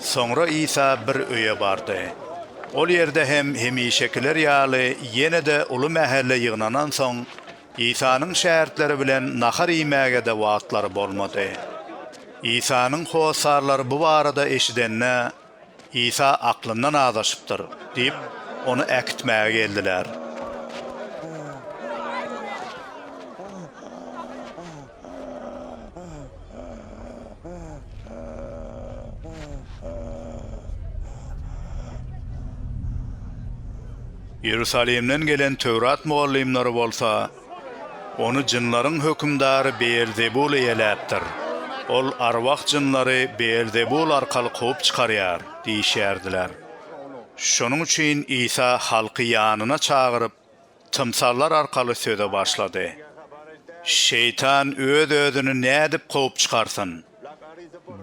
Soňra Isa bir öýe bardy. Ol ýerde hem hemişekiler ýaly ýene-de uly mähelle ýygnanansoň, Isanyň şägirtleri bilen nahar iýmäge-de wagtlary bolmady. Isanyň hossarlary bu barada eşidende, Isa aklyndan azaşypdyr diýip, ony äkitmäge geldiler. Iýerusalimden gelen Töwrat mugallymlary bolsa Ony jynlaryň hökümdary Beelzebul eýeläpdir. Ol arwah jynlary Beelzebul arkaly kowup çykarýar diýişýärdiler. Şonuň üçin Isa halky ýanyna çagyryp, tymsallar arkaly söze başlady. Şeýtan öz-özüni nädip kowup çykarsyn?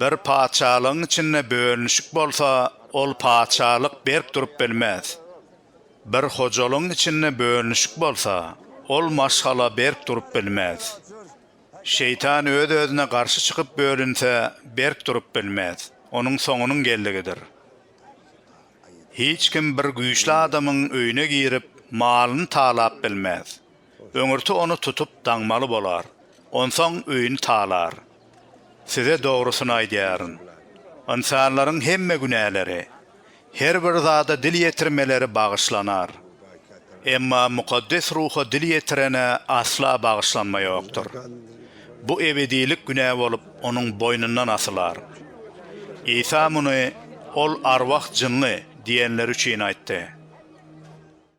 Bir patyşalygyň içinde bölünişik bolsa, ol patyşalyk berk durup bilmez. Bir hojalygyň içinde bölünişik bolsa, ol maşgala berk durup bilmez. Şeýtan öz-özüne garşy çykyp bölünse, berk durup bilmez, onuň soňunyň geldigidir. Hiç kim bir güýçli adamyň öýüne girip, malyny talap bilmez. Öňürti ony tutup daňmaly bolar. Onsoň öýüni talar. Size dogrusyny aýdýaryn. Ynsanlaryň hemme günäleri, her bir zada dil ýetirmeleri bagyşlanar. Emma Mukaddes Ruha dil ýetirene asla bagyşlanma ýokdur. Bu ebedilik günä bolup onuň boýnundan asylar. Isa muny Ol arwah-jynly diýenleri üçin aýtdy.